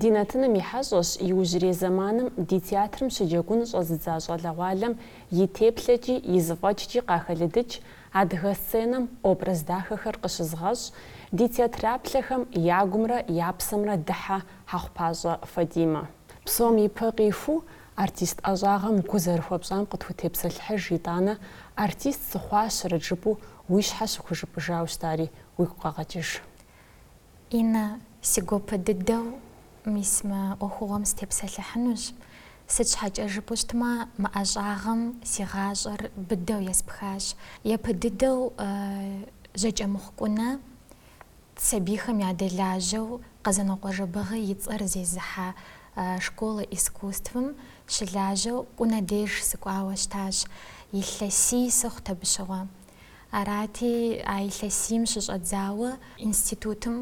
Ди нэтыным и хьэщӏэщ иужьрей зэманым ди театрым щыджэгун щӏэзыдза щӏалэгъуалэм и теплъэкӏи и зыфӏэкӏкӏи къахэлыдыкӏ адыгэ сценэм образ дахэхэр къыщызыгъэщӏ ди театраплъэхэм я гумрэ я псэмрэ дыхьэ Хьэхъупащӏэ Фатимэ. Псом ипэ къиху, артист ӏэщӏагъэм гу зэрыхуэпщӏам къытхутепсэлъыхьыж, итӏанэ, артист сыхъуащэрэт жыпӏэу уи щхьэ щыхужыпӏыжауэ щытари уигу къэгъэкӏыж. Иннэ, си гуапэ дыдэу, мис мы ӏуэхугъуэм сытепсэлъыхьынущ. Сыт щхьэкӏэ жыпӏэу щытмэ, мы ӏэщӏагъэм си гъащӏэр быдэу еспхащ. Япэ дыдэу Жьакӏэмыхъу Кӏунэ сабийхэм ядэлажьэу Къэзанокъуэ Жэбыгъи и цӏэр зезыхьэ Школа искусствым щылажьэу Кӏунэ деж сыкӏуауэ щытащ. Илъэсий сыхъут абы щыгъуэ. Арати, а илъэсийм щыщӏэдзауэ институтым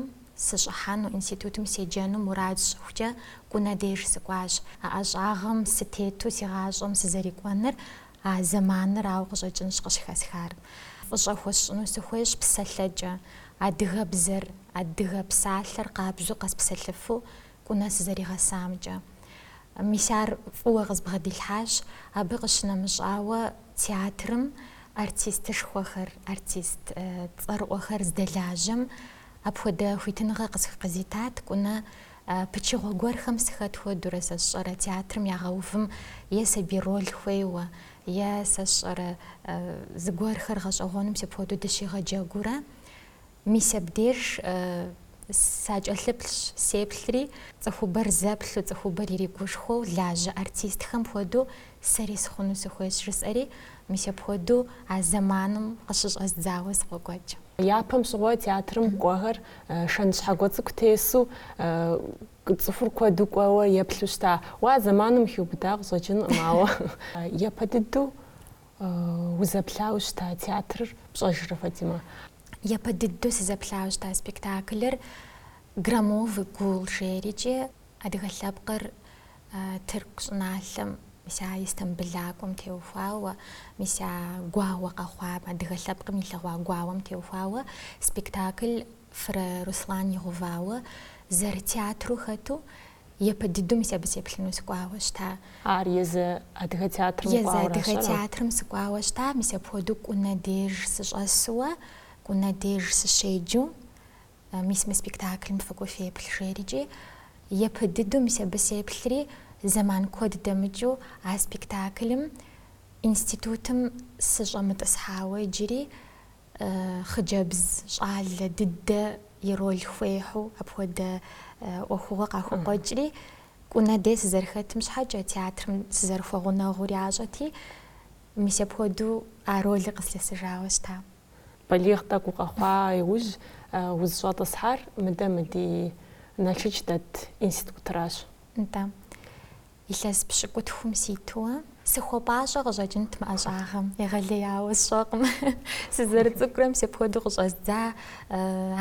сыщӏыхьэну, институтым седжэну мурад сщӏыхукӏэ Кӏунэ деж сыкӏуащ. А ӏэщӏагъэм сытету си гъащӏэм сызэрикӏуэныр а зэманырауэ къыщӏэкӏынщ къыщыхэсхар. Фӏыщӏэ хуэсщӏыну сыхуейщ псэлъэкӏэ, адыгэбзэр, адыгэ псалъэр къабжьу къэспсэлъыфу Кӏунэ сызэригъэсамкӏэ. Мис ар фӏыуэ къызбгъэдилъхьащ, абы къыщынэмыщӏауэ, театрым артистышхуэхэр, артист цӏэрыӏуэхэр здэлажьэм апхуэдэ хуитыныгъэ къысх къызитат, Кӏунэ пычыгъуэ гуэрхэм сыхэт хуэдэурэ, сэ сщӏэрэ, театрым ягъэувым е сабий роль хуейуэ, е, сэ сщӏэрэ, зыгуэрхэр гъэщӏэгъуэну мис апхуэдэу дыщигъэджэгуурэ, Мис абдеж сакӏэлъыплъщ, сеплъри, цӏыхубэр зэплъу, цӏыхубэр иригушхуэу лажьэ артистхэм хуэдэу сэри сыхъуну сыхуейщ, жысӏэри, мис апхуэдэу а зэманым къыщыщӏэздзауэ сыкъокӏуэкӏ. Япэм щыгъуэ театрым кӏуэхэр шэнт щхьэгуэ цӏыкӏу тесу, цӏыхур куэду кӏуэуэ еплъу щыта. Уэ а зэманым ухиубыда къыщӏэкӏынкъым, ауэ япэ дыдэу узэплъауэ щыта театрыр, пщӏэжрэ, Фатимэ? Япэ дыдэу сызэплъауэ щыта спектаклыр Громовый гул жерикӏи, адыгэ лъэпкъыр Тырку щӏыналъэм, мис а Истамбылакӏуэм теухуауэ, мис а гуауэ къэхъуам, адыгэ лъэпкъым илъэгъуа гуауэм теухуауэ спектакль Фырэ Руслан игъувауэ зэрытеатру хэту Япэ дыдэу мис абы сеплъыну сыкӏуауэ щыта. Ар езы адыгэ театрым кӏуауэ щӏэра? Езы адыгэ театрым сыкӏуауэ щыта, мис апхуэдэу Кӏунэ деж сыщӏэсуэ, Кӏунэ деж сыщеджу, мис мы спектаклым фыкӏуэ феплъ жерикӏи, япэ дыдэу мис абы сеплъри, зэман куэд дэмыкӏыу а спектаклым институтым сыщӏэмытӏысхьауэ иджыри хъыджэбз щӏалэ дыдэ и роль хуехьу апхуэдэ ӏуэхугъуэ къахукъуэкӏри, Кӏунэ дей сызэрыхэтым щхьэкӏэ театрым сызэрыхуэгъунэгъур ящӏэти, мис апхуэдэу а ролыр къыслъэсыжауэ щыта. Балигъ тӏэкӏу укъэхъуа иужь узыщӏэтӏысхьар мыдэ мы ди Налшыч дэт институтращ. Нтӏэ. Илъэс пщыкӏутхум ситуэ. Сыхуэпӏащӏэ къыщӏэкӏынт мы ӏэщӏагъэм, егъэлеяуэ сщӏэкъым. Сызэрыцӏыкӏурэ мис апхуэдэу къыщӏэздза,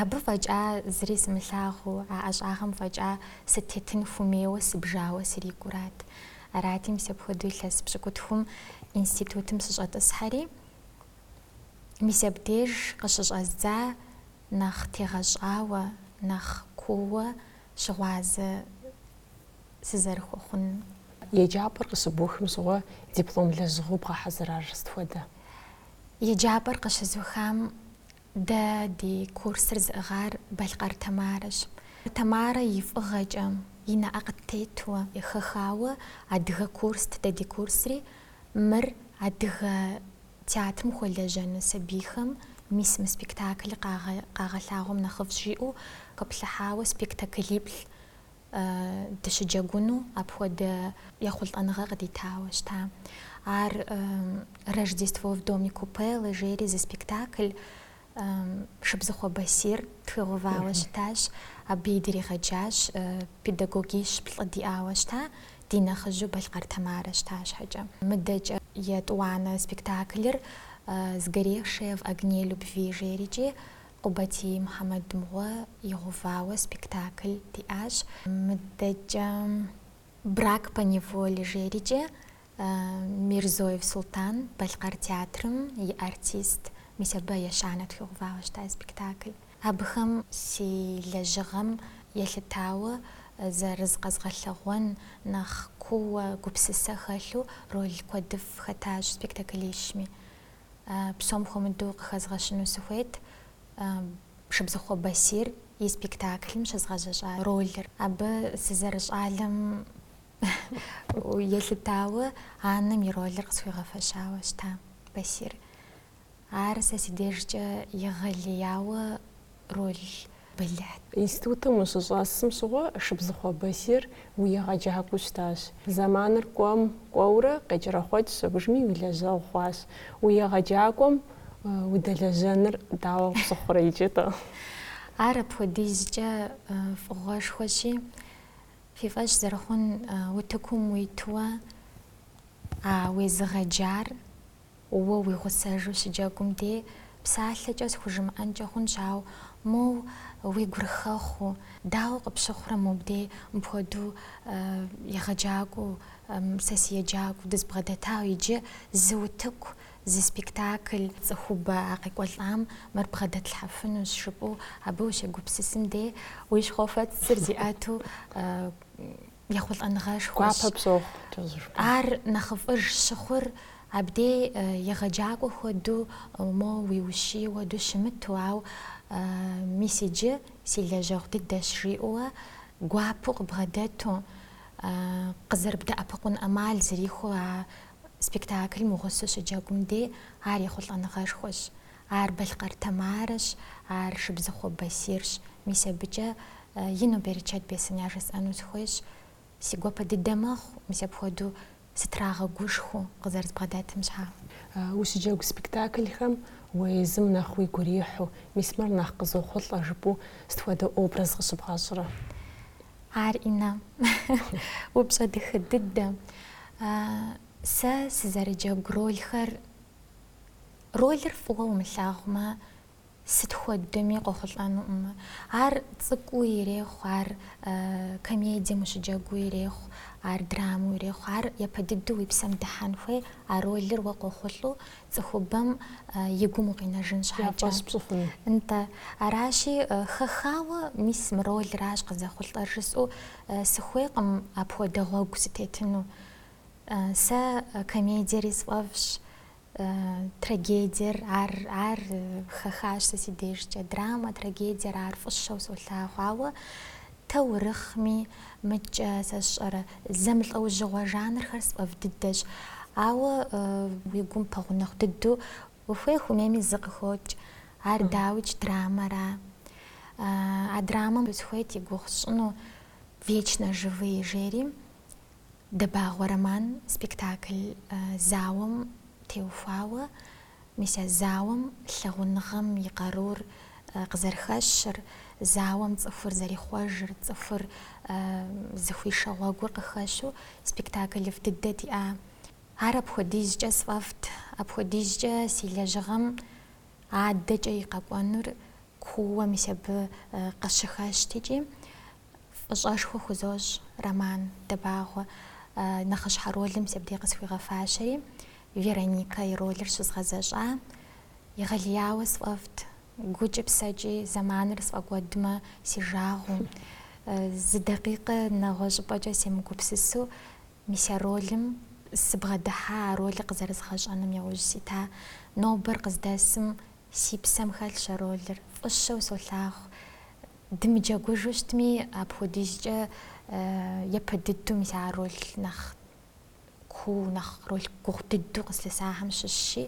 абы фӏэкӏа зыри сымылъагъуу, а ӏэщӏагъэм фӏэкӏа сытетын хумейуэ сыбжауэ срикӏурат. Арати мис апхуэдэу илъэс пщыкӏутхум институтым сыщӏэтӏысхьэри, мис абдеж къыщыщӏэздза нэхъ тегъэщӏауэ, нэхъ кууэ щыгъуазэ. сызэрыхуэхъунур. Еджапӏэр къыщыбухым щыгъуэ диплом лэжьыгъэу бгъэхьэзырар сыт хуэдэ? Еджапӏэр къыщызухам дэ ди курсыр зыӏыгъар Балъкъэр Тамарэщ. Тамарэ и фӏыгъэкӏэ, и нэӏэ къыттетуэ. Хэхауэ адыгэ курст дэ ди курсри, мыр адыгэ театрым хуэлэжьэну сабийхэм мис мы спектаклыр къагъэлъагъуэм нэхъыфӏщ жиӏэу хэплъыхьауэ спектаклиплӏ дыщыджэгуну апхуэдэ ехъулӏэныгъэ къыдитауэ щыта. Ар Рождество в доме Купьелло жери зы спектакль Шыбзыхъуэ Басир тхуигъэувауэ щытащ. Абыи дригъэджащ педагогищ-плӏы диӏауэ щыта, ди нэхъыжьу Балъкъэр Тамарэ щыта щхьэкӏэ. Мыдэкӏэ етӏуанэ спектаклыр Сгоревшая в огне любви жерикӏи Къубатий Мухьэмэд мыгъуэ игъэувауэ спектакль диӏащ. Мыдэкӏэ Брак по неволе жерикӏэ Мирзоев Султан Балъкъэр театрым и артист мис абы ещанэ тхуигъэувауэ щыта спектакль. Абыхэм си лэжьыгъэм елъытауэ зэрызкъэзгъэлъэгъуэн нэхъ кууэ гупсысэ хэлъу роль куэдыфӏ хэтащ спектаклищми. псом хуэмыдэу къыхэзгъэщыну сыхуейт Шыбзыхъуэ Басир и спектаклым щызгъэзэщӏа ролыр. Абы сызэрыщӏалэм елъытауэ анэм и ролыр къысхуигъэфэщауэ щыта Басир. Ар сэ си дежкӏэ егъэлеяуэ роль бэлыхьт. Институтым ущыщӏэсым щыгъуэ Шыбзыхъуэ Басир уи егъэджакӏуэу щытащ. Зэманыр кӏуэм кӏуэурэ къекӏэрэхъуэкӏ щӏыбжми уи лэжьэгъу хъуащ. Уи егъэджакӏуэм удэлэжьэныр дауэ къыпщыхъурэ иджы-тӏэ? Ар апхуэдизкӏэ фӏыгъуэшхуэщи, фи фӏэщ зэрыхъун утыкум уитуэ а уезыгъэджар Уэ уи гъусэжу щыджэгум де псалъэкӏэ схужымыӏэнкӏэ хъунщ, ауэ моу уи гур хэхъуэу, дауэ къыпщыхъурэ мобдей мыпхуэдэу егъэджакӏуэу, сэ си еджакӏуэу дызбгъэдэтауэ иджы зы утыку, зы спектакль, цӏыхубэ а къекӏуэлӏам мыр бгъэдэтлъхьэфынущ жыпӏэу абы ущегупсысым де уи щхьэфэцыр зиӏэту ехъулӏэныгъэшхуэщ. Гуапэ пщохъу кӏэзышхуэ. Ар нэхъыфӏыж щыхъур абдей егъэджакӏуэ хуэдэу моуэ уиущие хуэдэу щымыту, ауэ мис иджы си лэжьэгъу дыдэщ жиӏэуэ гуапэу къыбгъэдэту, къызэрыбдэӏэпыкъун ӏэмал зэрихуэу а спектаклым уи гъусэу щыджэгум дей ар ехъулӏэныгъэшхуэщ. Ар Балъкъэр Тамарэщ, ар Шыбзыхъуэ Басирщ. Мис абыкӏэ ину берычэт бесын яжесӏэну сыхуейщ. Си гуапэ дыдэ мэхъу, мис апхуэдэу сытрагъэгушхуэу къызэрызбгъэдэтым щхьа. Ущыджэгу спектаклхэм уэ езым нэхъ уигу ирихьу, мис мыр нэхъ къызохъулӏэ жыпӏэу сыт хуэдэ образ къыщыбгъэщӏрэ? Ар Инна. Упщӏэ дахэ дыдэ. Сэ сызэрыджэгу ролхэр Ролыр фӏыуэ умылъагъумэ, сыт хуэдэми къохъулӏэнукъым. Ар цӏыкӏуу ирехъу, ар комедием ущыджэгуу ирехъу, ар драмэу ирехъу, ар япэ дыдэу уи псэм дыхьэн хуей, а ролыр уэ къохъулӏэу цӏыхубэм и гум укъинэжын щхьэкӏэ. Я фӏэщ пщӏыфыну. Нтӏэ. Аращи, хэхауэ мис мы ролращ къызэхъулӏэр жысӏэу сыхуейкъым апхуэдэ гъуэгу сытетыну. Сэ комедиери сфӏэфӏщ, трагедиер, ар, ар хэхащ сэ си дежкӏэ. Драмэ, трагедиер ар фӏыщэу солъагъу, ауэ таурыхъми, мыкӏэ сэ сщӏэрэ, зэмылӏэужьыгъуэ жанрхэр сфӏэфӏ дыдэщ. Ауэ уи гум пэгъунэгъу дыдэу ухуей ухуэмейми зы къыхокӏ, ар дауикӏ драмэра. А драмэм схуейт и гугъу сщӏыну Вечно живые жери. Дэбагъуэ Роман спектакль зауэм теухуауэ мис а зауэм лъагъуныгъэм и къарур къызэрыхэщыр, зауэм цӏыхур зэрихъуэжыр, цӏыхур зыхуишэ гъуэгур къыхэщу спектаклыфӏ дыдэ диӏа. Ар апхуэдизкӏэ сфӏэфӏт, апхуэдизкӏэ си лэжьыгъэм адэкӏэ и къэкӏуэнур кууэ мис абы къыщыхэщт икӏи. Фӏыщӏэшхуэ хузощӏ Роман Дэбагъуэ нэхъыщхьэ роль мис абдей къысхуигъэфащэри, Вероника и ролыр щызгъэзэщӏа. Егъэлеяуэ сфӏэфӏт, гукӏи псэкӏи зэманыр сфӏэкӏуэдмэ си жагъуэу. Зы дакъикъэ нэгъуэщӏыпӏэкӏэ семыгупсысу, мис а ролым сыбгъэдыхьа, а ролыр къызэрызгъэщӏэным яужь сита. Нобэр къыздэсым Си псэм хэлъщ а ролыр, фӏыщэу солъагъу. Дымыджэгужу щытми, апхуэдизкӏэ япэ дыдэу мис а роль нэхъ куу, нэхъ роль гугъу дыдэу къыслъысахэм щыщщи,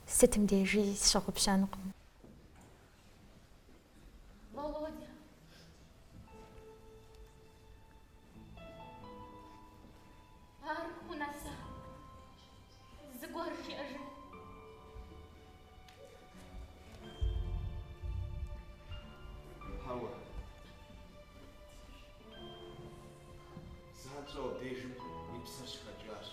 сытым дежи сщыгъупщэнукъым. Зыгуэр жиӏэжын. Хьэуэ. Занщӏэу абдежым и псэр щыхэкӏащ.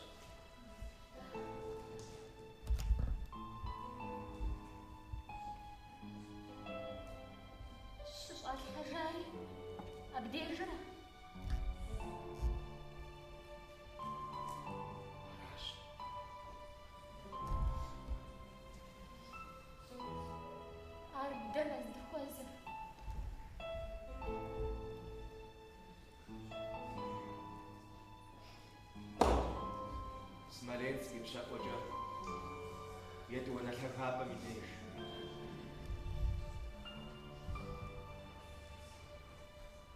Щыщӏалъхьэжари абдежра? Ар дэнэ здыхуэзэр? Смоленск ипщэӏуэкӏэ Етӏуанэ лъагапӏэм и деж.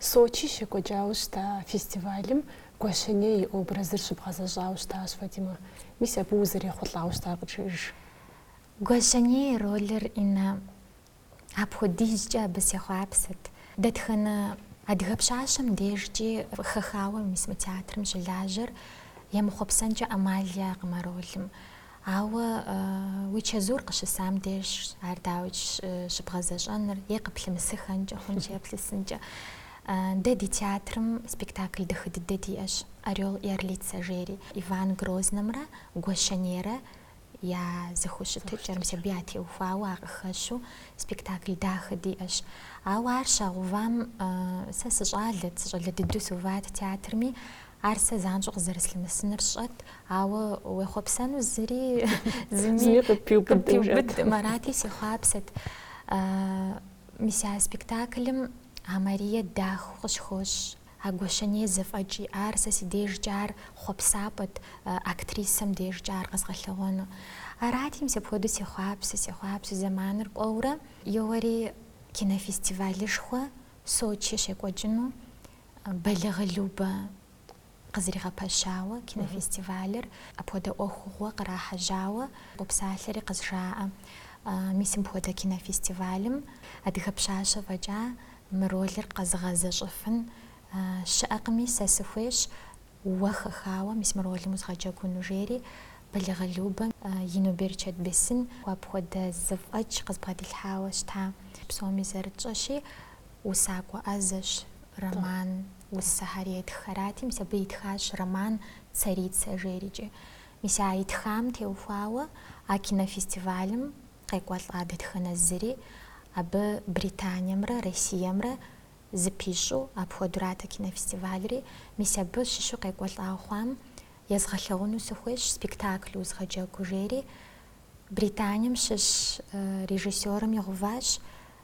Сочи щекӏуэкӏауэ щыта фестивалым Гуащэней и образыр щыбгъэзэщӏауэ щытащ Фатимэ. Мис абы узэрехъулӏауэ щытар къыджеӏэж. Гуащэней ролыр Инна апхуэдизкӏэ абы сехъуапсэт. Дэтхэнэ адыгэ пщащэм дежкӏи хэхауэ мис мы театрым щылажьэр емыхъуэпсэнкӏэ ӏэмал яӏэкъым а ролым. Ауэ уи чэзур къыщысам дежщ ар дауи щыбгъэзэщӏэныр е къыплъымысыхэнкӏэ хъунщ е плъысынкӏэ. Дэ ди театрым спектакль дахэ дыдэ диӏэщ Орел и орлица жери. Иван Грознэмрэ Гуащэнейрэ я зэхущытыкӏэр, мис абы ятеухуауэ ар къыхэщу спектакль дахэ диӏэщ. Ауэ ар щагъэувам сэ сыщӏалэт, сыщӏалэ дыдэу сыуват театрми, Ар сэ занщӏэу къызэрыслъымысыныр сщӏэт, ауэ уехъуэпсэну зыри зыми къыппиубыдым, арати сехъуапсэт. Мис а спектаклым а Марие дахэу къыщхощ, а Гуащэней зэфӏэкӏ иӏар сэ си дежкӏэ ар хъуэпсапӏэт, актрисэм дежкӏэ ар къэзгъэлъэгъуэну. Арати, мис апхуэдэу сехъуапсэ, сехъуапсэ, зэманыр кӏуэурэ, еуэри кинофестивалышхуэ Сочи щекӏуэкӏыну, Бэлагъы Любэ къызэригъэпэщауэ кинофестивалыр апхуэдэ ӏуэхугъуэ кърахьэжьауэ къопсалъэри къызжаӏэ. Мис мыпхуэдэ кинофестивалым адыгэ пщащэ фӏэкӏа мы ролыр къэзыгъэзэщӏэфын щыӏэкъыми, сэ сыхуейщ уэ хэхауэ мис мы ролым узгъэджэгуну, жери Бэлагъы Любэ ину берычэт бесын апхуэдэ зэфӏэкӏ къызбгъэдилъхьауэ щыта. Псоми зэрытщӏэщи, Усакӏуэ ӏэзэщ роман усэхэри етх арати, мис абы итхащ роман Царица жерикӏи. Мис а итхам теухуауэ а кинофестивалым къекӏуэлӏа дэтхэнэ зыри абы Британиемрэ Россиемрэ зэпищӏэу апхуэдурат а кинофестивальри. Мис абы щыщу къекӏуэлӏа хъуам езгъэлъэгъуну сыхуейщ спектакль узгъэджэгу жери Британием щыщ режиссерым игъэуващ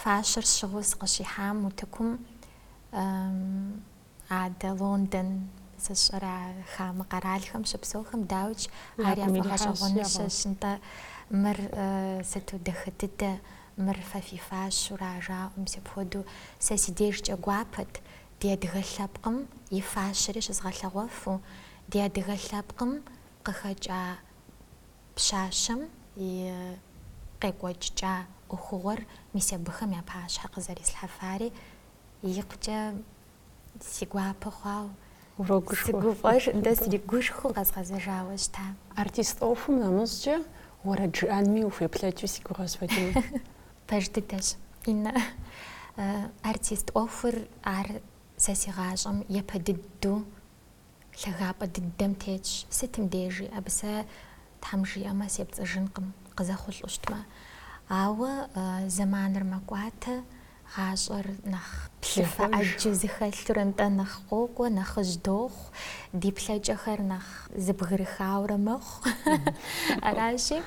Фащэр сщыгъыу сыкъыщихьам утыкум адэ Лондон сэ сщӏэрэ а хамэ къэралхэм щыпсэухэм дауикӏ ар яфӏэгъэщӏэгъуэныщэщ нтӏэ. Мыр сыту дахэ дыдэ, мыр фэ фи фащэу ара жаӏэу, мис апхуэдэу сэ си дежкӏэ гуапэт ди адыгэ лъэпкъым и фащэри щызгъэлъэгъуэфу, ди адыгэ лъэпкъым къыхэкӏа пщащэм и къекӏуэкӏыкӏа ӏуэхугъуэр мис абыхэм я пащхьэ къызэрислъхьэфари икъукӏэ си гуапэ хъуауэ, сыгуфӏэжу, дэ сригушхуэу къэзгъэзэжауэ щыта. Артист ӏуэхум нэмыщӏкӏэ уэрэд жыӏэнми ухуеплъэкӏыу си гугъэ сфӏэкӏыну. Пэж дыдэщ, Иннэ. Артист ӏуэхур ар сэ си гъащӏэм япэ дыдэу Лъагапӏэ дыдэм тетщ, сытым дежи, абы сэ Тхьэм жиӏэмэ сепцӏыжынкъым, къызэхъулӏу щытмэ. Ауэ зэманыр мэкӏуатэ, гъащӏэр нэхъ плъыфэ ӏэджэ зыхэлъурэ нтӏэ нэхъ къокӏуэ, нэхъыжь дохъу, ди плъэкӏэхэр нэхъ зэбгрыхаурэ мэхъу. Аращи,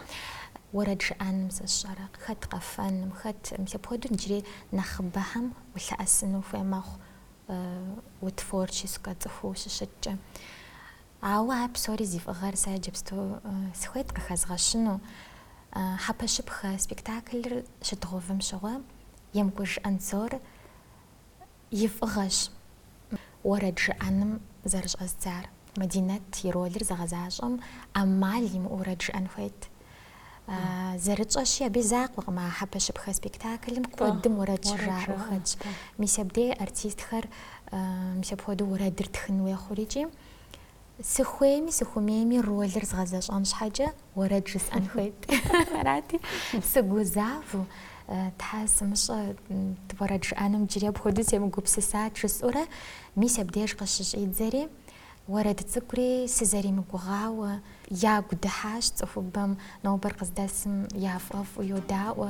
уэрэд жыӏэным сэ сщӏэрэ, хэт къэфэным, хэт мыпхуэдэу иджыри нэхъыбэхэм улъэӏэсыну хуей мэхъу. утворческэ цӏыхуу ущыщыткӏэ. Ауэ ар псори зи фӏыгъэр сэ иджыпсту сыхуейт къыхэзгъэщыну. Хьэпэщыпхэ спектаклыр щыдгъэувым щыгъуэ Емкӏуж Анзор и фӏыгъэщ уэрэд жыӏэным зэрыщӏэздзар. Мадинэт и ролыр зыгъэзащӏэм ӏэмал имыӏэу уэрэд жиӏэн хуейт. Зэрытщӏэщи, абы и закъуэкъым а хьэпэщыпхэ спектаклым куэдым уэрэд щыжаӏэу хэтщ. Мис абдей артистхэр мис апхуэдэу уэрэдыр тхын хуей хъурикӏи, сыхуейми сыхумейми ролыр згъэзэщӏэн щхьэкӏэ, Уэрэд жысӏэн хуейт. Арати, сыгузавэу, Тхьэ сымыщӏэ уэрэд жыӏэным иджыри апхуэдэу семыгупсысат жысӏэурэ, мис абдеж къыщыщӏидзэри, уэрэд цӏыкӏури сызэримыгугъауэ, ягу дыхьащ цӏыхубэм, нобэр къыздэсым яфӏэфӏу йодаӏуэ.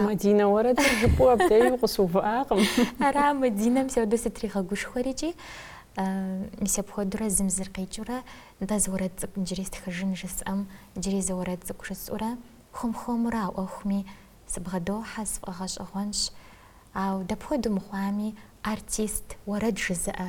Мадинэ уэрэдыр жыпӏэу абдеи укъыщыувыӏакъым. Ара Мадинэм сэ дэ сытригъэгушхуэрикӏи, мис апхуэдэурэ зым зыр къикӏыурэ дэ зы уэрэд цӏыкӏу иджыри стхыжын жысӏэм, иджыри зы уэрэд цӏыкӏу жысӏэурэ, хуэм-хуэмурэ а ӏуэхуми сыбгъэдохьэ, сфӏэгъэщӏэгъуэнщ. Ауэ дапхуэдэу мыхъуами, артист, уэрэд жызыӏэ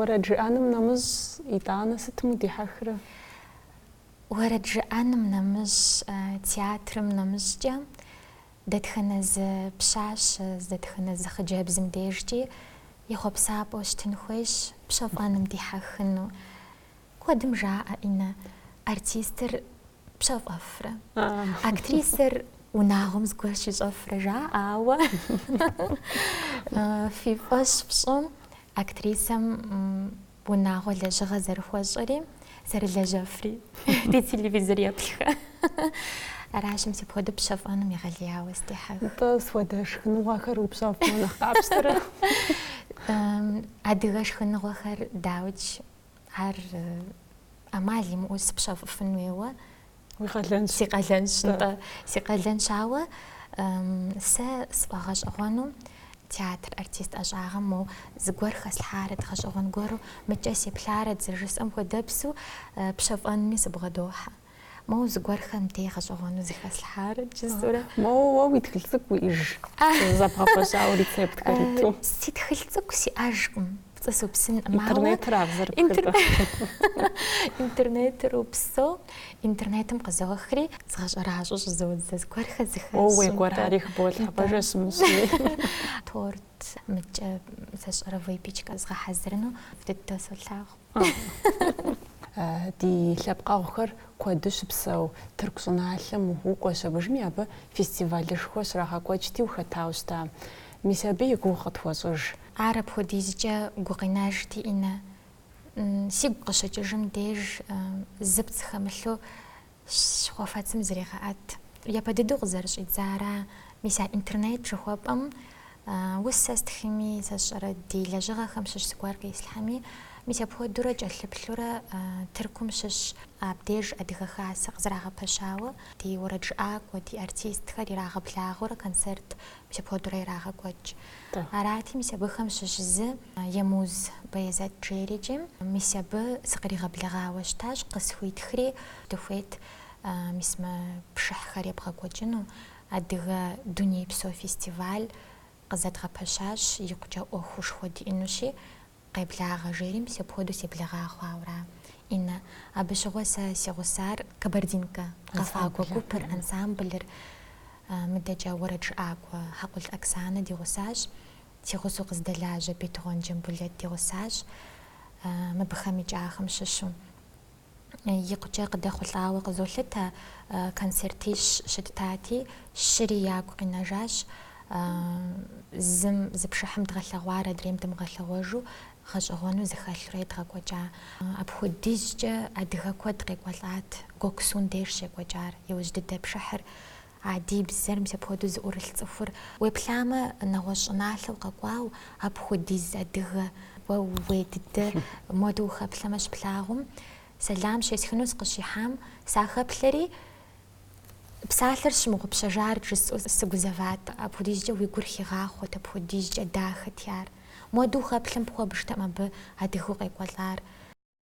Уэрэд жыӏэным нэмыщӏ, Иннэ, сытым удихьэхрэ? Уэрэд жыӏэным нэмыщӏ, театрым нэмыщӏкӏэ, дэтхэнэ зы пщащэ, дэтхэнэ зы хъыджэбзым дежкӏи и хъуэпсапӏэу щытын хуейщ, пщэфӏэным дихьэхыну. Куэдым жаӏэ, Иннэ, артистыр, пщэфӏэфрэ. Актрисэр унагъуэм зыгуэр щищӏэфрэ жаӏауэ. Фи фӏэщ фщӏы актрисэм унагъуэ лэжьыгъэ зэрыхуэщӏэри, зэрылэжьэфри. Ди телевизореплъхэ. Аращ мис апхуэдэу пщэфӏэным егъэлеяуэ сыдехьэх. Нтӏэ сыт хуэдэ шхыныгъуэхэр упщэфӏмэ нэхъ къапщтэрэ? Адыгэ шхыныгъуэхэр дауикӏ Ар ӏэмал имыӏэу сыпщэфӏыфын хуейуэ. Уи къалэнщ. Си къалэнщ, нтӏэ. Си къалэнщ, ауэ сэ сфӏэгъэщӏэгъуэну театр артист ӏэщӏагъэм моу зыгуэр хэслъхьарэт, гъэщӏэгъуэн гуэру мыкӏэ сеплъарэт зэрыжысӏэм хуэдэпсу пщэфӏэнми сыбгъэдохьэ. Моу зыгуэрхэр мыбдеи гъэщӏэгъуэну зыхэслъхьарэт жысӏэурэ. Моу уэ уи тхылъ цӏыкӏу уиӏэж зэбгъэпэщауэ рецептхэр иту. Си тхылъ цӏыкӏу сиӏэжкъым. Пцӏы супсынкъым, ауэ. Интернетыр абзэр пхытэ. Интернетыр упсэу, интернетым къызохри, згъэщӏэращӏэу щӏызодзэ, зыгуэрхэр зыхэсщӏынтэ. О, уи гуэрхэри хыболъхьэ, пэжэ сымысми. Торт. Мыдкӏэ зэщӏэ уи кӏэпичкэ згъэхьэзырыну дыдэу солъагъу. Ди лъэпкъэгъухэр куэду щыпсэу Тырку щӏыналъэм укӏуэу щытыжми, абы фестивалышхуэ щрагъэкӏуэкӏти ухэтауэ щыта? Мис абы и гугъу къытхуэщӏыж. Ар апхуэдизкӏэ гукъинэж икӏи инт. Сигу къыщыкӏыжым деж зыпцӏ хэмылъу Щхьэфэцым зрегъэӏэт, япэ дыдэу къызэрыщӏидзар, мис а интернет жыхуэпӏэм усэ стхыми, сэ сщӏэрэ ди лэжьыгъэхэм щыщ зыгуэр къислъхьэми, мис апхуэдэурэ кӏэлъыплъурэ Тыркум щыщ абдеж Адыгэ Хасэ къызэрагъэпэщауэ ди уэрэджыӏакӏуэ, ди артистхэр ирагъэблагъэурэ концерт Сыпхуэдурэ ирагъэкӏуэкӏ. Арати, мис абыхэм щыщ зы Емуз Бэезэт жери икӏи, мис абы сыкъригъэблэгъауэ щытащ, къысхуитхри дыхуейт мис мы пшыхьхэр ебгъэкӏуэкӏыну. Адыгэ дунейпсо фестиваль къызэдгъэпэщащ, икъукӏэ ӏуэхушхуэ диӏынущи, Къеблагъэ жери мис апхуэдэу себлагъа хъуауэра, Иннэ. Абы щыгъуэ сэ си гъусар Кабардинкэ къэфакӏуэ гупыр, ансамблыр, мыдэкӏэ уэрэд жыӏакӏуэ Хьэкъул Оксанэ ди гъусащ, си гъусэу къыздэлажьэ Бетыгъуэн Джамбулэт ди гъусащ, мыбыхэм и кӏахэм щыщу. икъукӏэ къыдэхъулӏауэ къызолъытэ, концертищ щыттати, щыри ягу къинэжащ, зым зы пшыхьым дгъэлъэгъуар адрейм дымыгъэлъэгъуэжу гъэщӏэгъуэну зыхэлъурэ едгъэкӏуэкӏа. Апхуэдизкӏэ адыгэ куэд къекӏуэлӏат Гёксун деж щекӏуэкӏар, иужь дыдэ пшыхьыр А ди бзэр мис апхуэдэу зыӏурылъ цӏыхур уеплъамэ, нэгъуэщӏ щӏыналъэ укъэкӏуауэ, апхуэдиз адыгэ, уэ ууей дыдэ модэу ухэплъэмэ щыплъагъум, сэлам щесхыну сыкъыщихьам, сахэплъэри, псалъэр сщымыгъупщэжарт жысӏэу сыгузэват, апхуэдизкӏэ уи гур хигъахъуэт, апхуэдизкӏэ дахэти ар. Модэу ухэплъэм пхуэбжтэкъым абы адыгэу къекӏуэлӏар.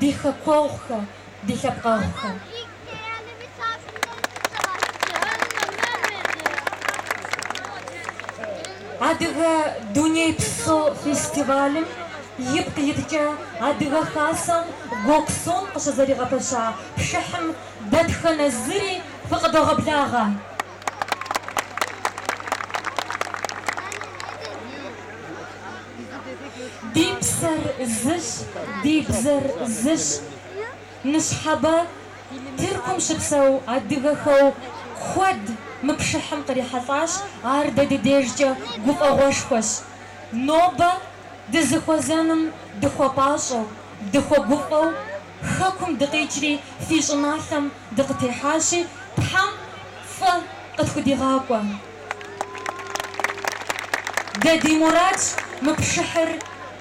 Ди хэкуэгъухэ, ди лъэпкъэгъухэ. Адыгэ дунейпсо фестивалым ипкъ иткӏэ Адыгэ Хасэм Гёксун къыщызэригъэпэща пшыхьым дэтхэнэ зыри фыкъыдогъэблагъэ. Ди псэр зыщ, ди бзэр зыщ. Ныщхьэбэ Тыркум щыпсэу адыгэхэу куэд мы пшыхьым кърихьэлӏащ, ар дэ ди дежкӏэ гуфӏэгъуэшхуэщ. Нобэ дызыхуэзэным дыхуэпӏащӏэу, дыхуэгуфӏэу. Хэкум дыкъикӏри, фи щӏыналъэм дыкъытехьащи, Тхьэм фӏы къыфхудигъакӏуэ. Дэ ди мурадщ мы пшыхьыр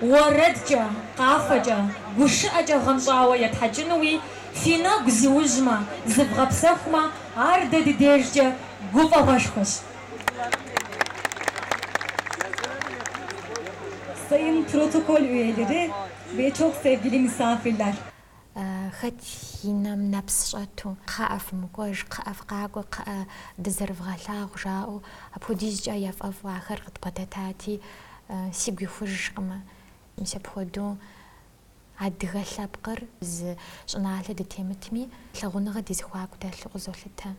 уэрэдкӏэ, къафэкӏэ, гушыӏэкӏэ гъэнщӏауэ етхьэкӏынуи, фи нэгу зиужьмэ, зывгъэпсэхумэ, ар дэ ди дежкӏэ гуфӏэгъуэшхуэщ. Sayın protokol üyeleri, ve çok sevgili misafirler. Хэт и нэм нэпс щӏэту. Кхъыӏэ, фымыкӏуэж, кхъыӏэ, фыкъакӏуэ, кхъыӏэ, дызэрывгъэлъагъу, жаӏэу, апхуэдизкӏэ яфӏэфӏу ахэр къыдбгъэдэтати, сигу ихужкъымэ. Мис апхуэдэу адыгэ лъэпкъыр зы щӏыналъэ дытемытми, лъагъуныгъэ ди зэхуаку дэлъу къызолъытэ.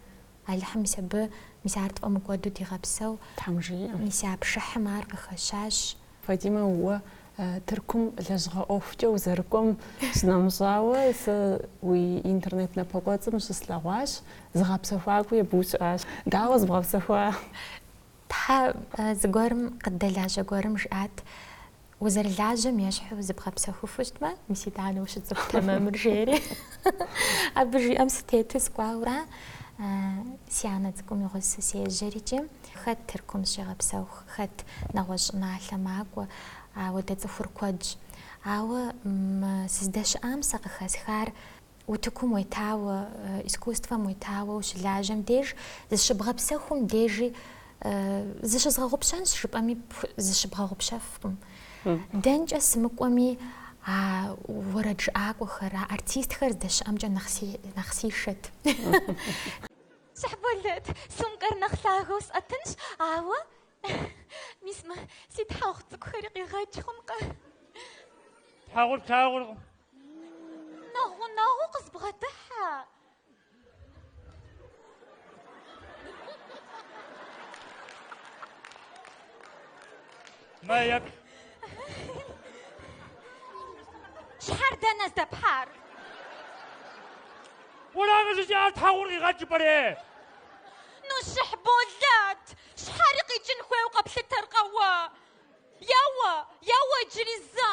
Алыхьым мис абы, мис ар тфӏэмыкӏуэду дигъэпсэу. Тхьэм жиӏэ. Мис а пшыхьым ар къыхэщащ. Фатимэ, уэ Тыркум лэжьыгъэ ӏуэхукӏэ узэрыкӏуэм щынэмыщӏауэ, сэ уи интернет напэкӏуэцӏым щыслъэгъуащ, зыгъэпсэхуакӏуи абы ущыӏащ. Дауэ зыбгъэпсэхуар? Тхьэ зыгуэрым къыддэлажьэ гуэрым жиӏат, Узэрылажьэм ещхьу зыбгъэпсэхуфу щытмэ, мис итӏанэ ущыцӏыху тэмэмыр, жери. Абы жиӏэм сытету сыкӏуауэра, си анэ цӏыкӏум и гъусэ сежьэри икӏи, хэт Тыркум зыщегъэпсэху, хэт нэгъуэщӏ щӏыналъэ макӏуэ, ауэ дэ цӏыхур куэдщ. Ауэ мы сыздэщыӏам сэ къыхэсхар. Утыкум уетауэ, искусствэм уетауэ ущылажьэм деж, зыщыбгъэпсэхум дежи зыщызгъэгъупщэнщ жыпӏэми зыщыбгъэгъупщэфкъым. Дэнкӏэ сымыкӏуэми а уэрэджыӏакӏуэхэр, а артистхэр здэщыӏэмкӏэ нэхъ сишэт. Щыхьболэт, сумкэр нэхъ лъагэу сӏэтынщ, ауэ мис мы си тхьэгъу цӏыкӏухэри къигъэкӏ хъункъэ? Тхьэгъур плъагъуркъым, Нэхъ гъунэгъуу къызбгъэдыхьэ. Мэеп. Щхьэр дэнэ здэпхьар? Уэракъэ жызыӏар тхьэгъур къигъэкӏ жыпӏэри? Ну Щыхьболэт. Щхьэри къикӏын хуейуэ къэплъытэркъэ уэ? Еуэ, еуэ иджыри зэ.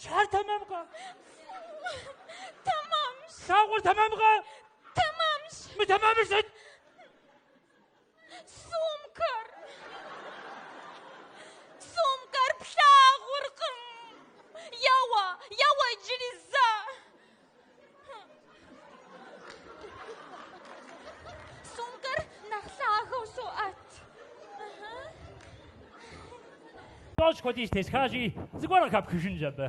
Щхьэр тэмэмкъэ? Тэмэмщ. Тхьэгъур тэмэмкъэ? Тэмэмщ. Мытэмэмыр сыт? Сумкэр. Сумкэр плъагъуркъым. Еуэ, еуэ иджыри зэ. Сумкэр нэхъ лъагэу соӏэт. Тӏощӏ хуэдиз тесхащи, зыгуэр къыхэпхыжынщ абы.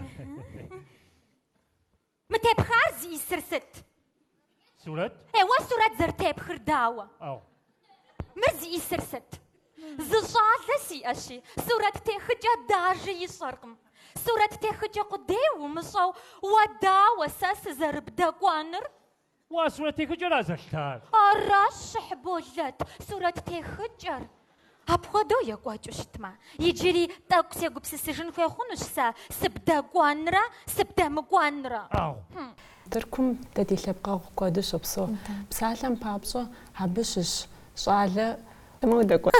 Мы тепхар зиӏысыр сыт? Сурэт? Е, уэ сурэт зэрытепхыр дауэ? Ау. Мыр зиӏысыр сыт? Зы щӏалэ сиӏэщи, сурэттехыкӏэ дажи ищӏэркъым. Сурэттехыкӏэ къудей умыщӏэу уэ дауэ сэ сызэрыбдэкӏуэнур? Уа сурэттехыкӏэра зэлъытар? Аращ, Щыхь Болэт, сурэттехыкӏэр. Апхуэдэу екӏуэкӏыу щытмэ, иджыри тӏэкӏу сегупсысыжын хуей хъунущ сэ сыбдэкӏуэнрэ сыбдэмыкӏуэнрэ. Ӏэгъу. Тыркум дэ ди лъэпкъэгъу куэду щопсэу. Псалъэм папщӏэ, абы щыщ щӏалэ Тымэ удэкӏуэт.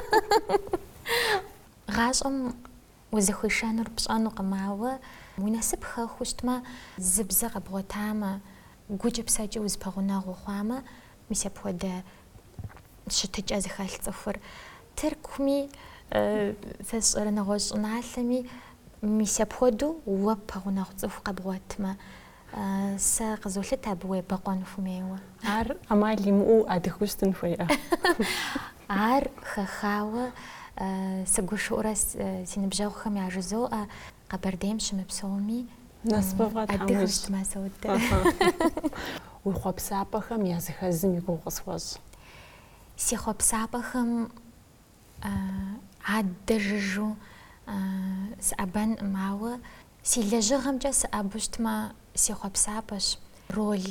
Гъащӏэм узыхуишэнур пщӏэнукъым, ауэ уи насып хэхыу щытмэ, зы бзэ къэбгъуэтамэ, гукӏэ псэкӏэ узэпэгъунэгъу хъуамэ, мис апхуэдэ щытыкӏэ зыхэлъ цӏыхур. Тыркуми, сэ сщӏэрэ нэгъуэщӏ щӏыналъэми, мис апхуэдэу уэ пэгъунэгъу цӏыху къэбгъуэтмэ, Сэ къызолъытэ абы уебэкъуэн хумейуэ. Ар ӏэмал имыӏэу адыгэу щытын хуейӏэ? Ар хэхауэ сыгушыӏурэ си ныбжьэгъухэм яжызоӏэ, Къэбэрдейм щымыпсэуми адыгэу щытмэ содэ. Уи хъуэпсапӏэхэм я зыхэзым и гугъу къысхуэщӏ. Си хъуэпсапӏэхэм адэ жыжьэу сыӏэбэнкъым, ауэ Си лэжьыгъэмкӏэ сыӏэбу щытмэ, си хъуэпсапӏэщ роль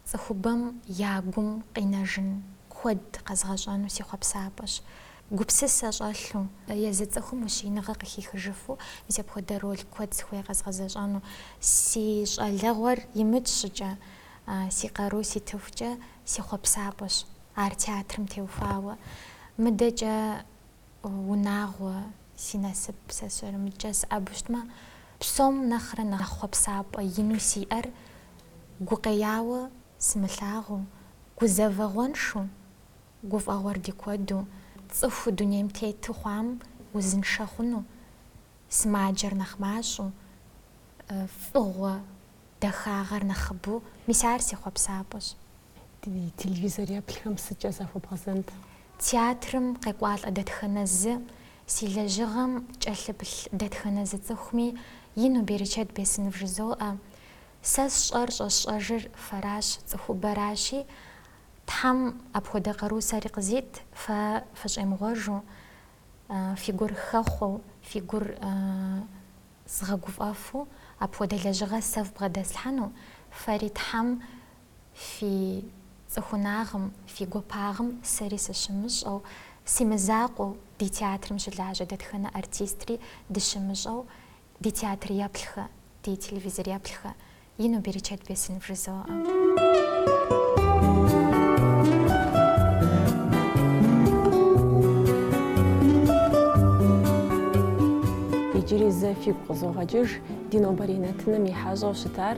цӏыхубэм я гум къинэжын куэд къэзгъэщӏэну си хъуэпсапӏэщ. Гупсысэ щӏэлъу, езы цӏыхум ущииныгъэ къыхихыжыфу мис апхуэдэ роль куэд сыхуей къэзгъэзэщӏэну. Си щӏалэгъуэр имыкӏ щӏыкӏэ, си къару ситыхукӏэ си хъуэпсапӏэщ ар театрым теухуауэ. Мыдэкӏэ. Унагъуэ, си насып, сэ сщӏэрэ, мыбыкӏэ сыӏэбу щытмэ, псом нэхърэ нэхъ хъуэпсапӏэ ину сиӏэр, гукъеяуэ сымылъагъуу, гузэвэгъуэншу, гуфӏэгъуэр ди куэду, цӏыхуу дунейм тету хъуам узыншэ хъуну, сымаджэр нэхъ мащӏэу, фӏыгъуэ, дахагъэр нэхъыбэу, мис ар си хъуэпсапӏэщ. Ди телевизор еплъхэм сыткӏэ захуэбгъэзэнт? Театрым къекӏуалӏэ дэтхэнэ зы, си лэжьыгъэм кӏэлъыплъ дэтхэнэ зы цӏыхуми ину берычэт бесын вжызоӏэ. Сэ сщӏэр щӏэсщӏэжыр фэращ, цӏыхубэращи, Тхьэм апхуэдэ къару сэри къызит, фэ фыщӏемыгъуэжу, фи гур хэхъуэу, фи гур згъэгуфӏэфу апхуэдэ лэжьыгъэ сэ фбгъэдэслъхьэну, фэри Тхьэм Фи цӏыхунагъым, фи гуапагъым сэри сыщымыщӏэу, си мызакъуэу, ди театрым щылажьэ дэтхэнэ артистри дыщымыщӏэу, ди театр еплъхэ, ди телевизор еплъхэ, ину берычэт бесын вжызоӏэ. Иджыри зэ фигу къызогъэкӏыж ди нобэрей нэтыным и хьэщӏэу щытар